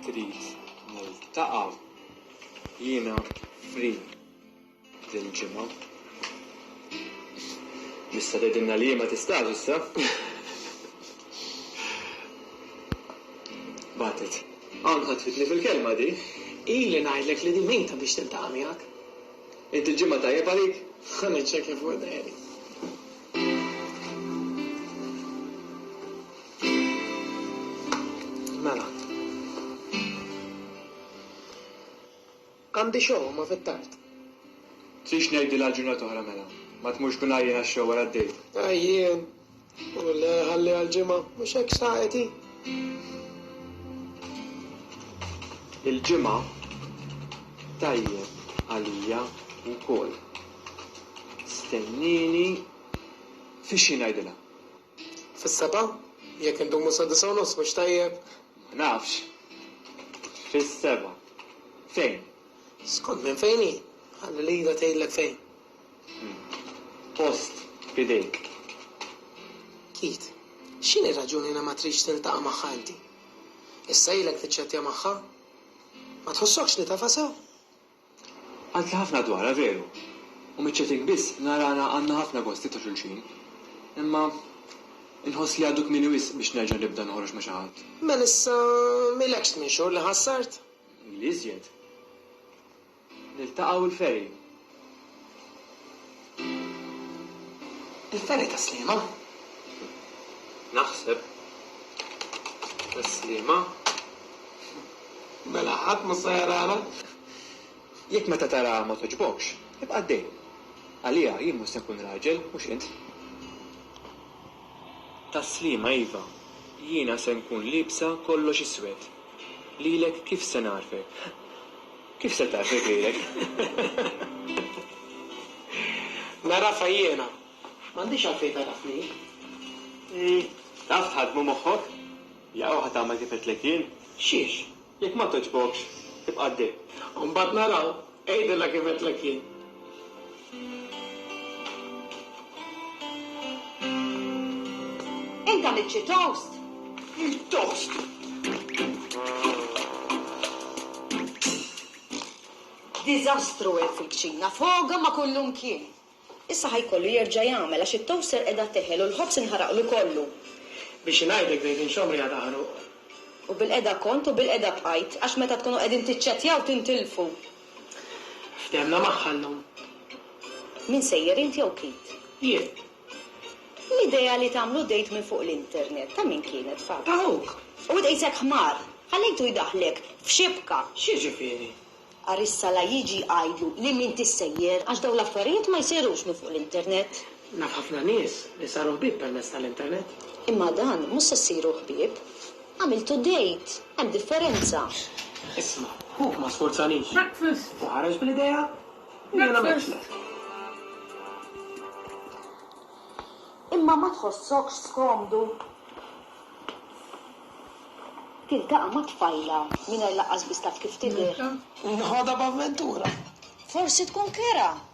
Trid niltaqa' jiena free dil-ġimgħa? Tista' tgħidilna li ma tistax issa? Bagħtet. Hawn ħatfitni fil-kelma di. Ili ngħidlek li di mejta biex tiltaqa' miegħek. Inti l-ġimgħa tajjeb għalik? Ħa niċċekkja fuq id-diary. Mela. Għandi show ma fit-tard. Tridx ngħidilha għal ġurnata oħra mela. Ma tmurx kun għajjien għax-show wara d-dejt. Għajjien? U le, ħalliha l-Ġimgħa. Mhux hekk xtaqet hi? Il-Ġimgħa tajjeb għalija wkoll. Stennini, f'ixħin ngħidilha. Fis-sebgħa? Jekk indumu sad-disgħa u nofs mhux tajjeb? Ma nafx. Fis-sebgħa. Fejn? Skont minn fejn hi. Ħalli lilha tgħidlek fejn. Post b'idejk. Keith, x'inhi r-raġuni li ma tridx tiltaqa' magħha inti? Issa ilek tiċċettja magħha? Ma tħossokx li tafha sew? Għadtli ħafna dwarha veru, u miċ-chatting biss narana għandna ħafna gosti ta' xulxin. Imma inħoss li għadu kmieni wisq biex nerġa' nibda noħroġ ma' xi ħadd. Melissa, m'ilekx tmien xhur li ħassart? Ili iżjed. Niltaqgħu l-ferry. Il-fergħa ta' Sliema? Naħseb. Ta' Sliema. Mela ħadd mhu se jarana? Jekk meta taraha ma togħġbokx, ibqa' għaddej. Għaliha jien mhux se nkun raġel, mhux int. Ta' Sliema iva, jiena se nkun liebsa kollox iswed. Lilek kif se nagħrfek? Kif se taf jekk lilek? Nagħrafha jiena. M'għandix għalfejn tagħrafni. Ii, taf tħaddmu moħħok? Jew ħa tagħmel kif għedtlek jien? Xiex? Jekk ma togħġbokx, ibqa' ddi. U mbagħad naraw. Għidilha kif għedtlek jien. Int għamilt xi toast? Toast! Diżastru hemm fil-kċina, foga ma' kullimkien. Issa ħa jkollu jerġa' jagħmel għax it-toaster qiegħda teħel u l-ħobż inħaraqlu kollu. Biex ingħidlek bdejt inxomm riħa ta' ħruq. U bilqiegħda kont u bilqiegħda bqajt għax meta tkunu qegħdin tiċċettjaw tintilfu. Ftehemna magħha llum. Min sejjer int jew Keith? Jien. L-idea li tagħmlu date minn fuq l-internet ta' min kienet, Fabs? Ta' ħuk. U tqisek ħmar! Ħallejtu jdaħħlek f'xibka! X'jiġifieri? Għarissa la jiġi jgħidlu li m'intix sejjer għax dawn l-affarijiet ma jsirux minn fuq l-internet. Naf ħafna nies li saru ħbieb permezz tal-internet. Imma dan mhux se ssiru ħbieb. Għamiltu date! Hemm differenza. Isma', ħuk ma sfurzanix. U ħareġ bl-idea u jiena għamiltlek. Imma ma tħossokx skomdu? Tiltaqa' ma' tfajla mingħajr lanqas biss taf kif tidher. Nħodha b'avventura. Forsi tkun kerha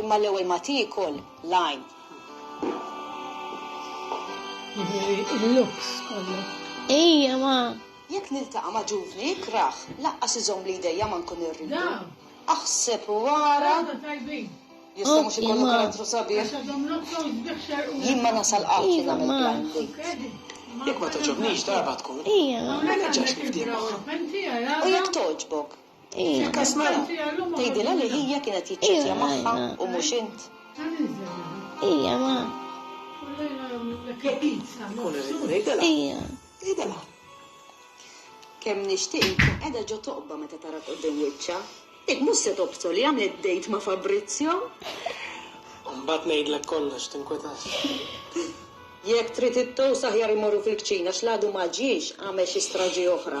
Imma l-ewwel ma tiekol l-għajn. Il-luks kollu. Ejja ma. Jekk niltaqa' ma' ġuvni ikrah, laqqas iżomm li jdejja ma nkun irridu. Aħseb u ara. Jista' mhux ikollu karattru sabiħ. Jien ma nasal qatt li nagħmel plan date. Jekk ma toġobnix darba tkun. Ija. Ma nerġax nifdih magħha. U jekk toġbok? Ismagħla, tgħidilha li hija kienet jiċċettja magħha u mhux int. Ija, ma. Ija. Tgħidilha. Kemm nixtieq inkun qiegħda ġo toqba meta tarak quddiem wiċċha. Dik mhux se tobsor li għamlet dejt ma' Fabrizio. Mbagħad ngħidlek kollox, tinkwetax. Jekk trid ittowsa aħjar immorru fil-kċina x'l-għadu ma ġiex għamel xi straġi oħra.